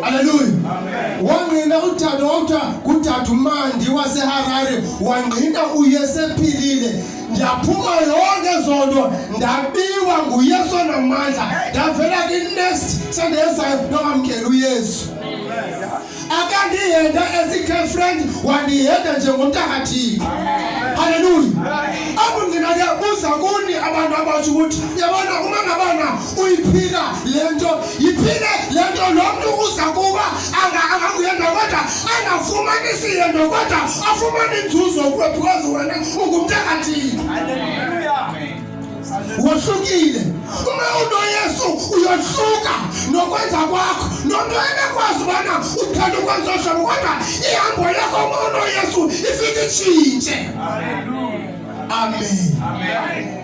Haleluya. Wangqina uDade wawuthiwa nguDade uMandi waseHarare, wangqina uyesephilile. Ndiyaphuma yonke ezo nto ndabiwa nguYesu onamandla, ndavela kwi-next sendezayo nokwamkela uYesu. Akandihenda as a girlfriend, wandihenda njengomntu akathixo. Haleluya. Apho ndinakuyabuza kuni abantu abatsho ukuthi yabona uma ngabana uyiphila le nto yiphile le nto lo mntu uza kuba angakuyenda kodwa angafumani siyendo kodwa afumane inzuzo kuwe because wena ungumntu akathile wohlukile uma unoyesu uyohluka nokwenza kwakho nomntu enekwazi ubana uthanda ukwenza ohlobo kodwa ihambo lakho uma unoyesu ifike itshintshe amen, amen. amen.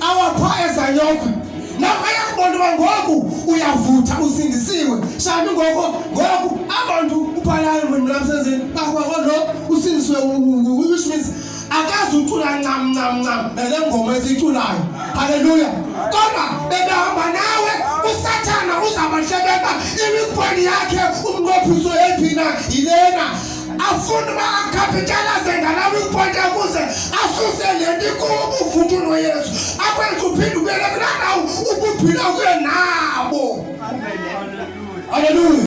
awapha ezanyokhwe naphaya kubontu uba ngoku uyavutha usindisiwe shami ngoko ngoku abantu ubhalalo mlamsenzeni bakwako lo usindisiwe which means akazi ucula ncam ncam ncam nale ngoma esiyiculayo halleluya kodwa bebehamba nawe usathana uzabahlebeka imikhweni yakhe umnqophiso ephina yilena afuna uba akhapitalaze ngalawo ipointi akuze asuse le nto ikuwo ubuvuthu noyesu akwenza uphinde ubele kulaa ndawo ubuphila kuye nabo halleluya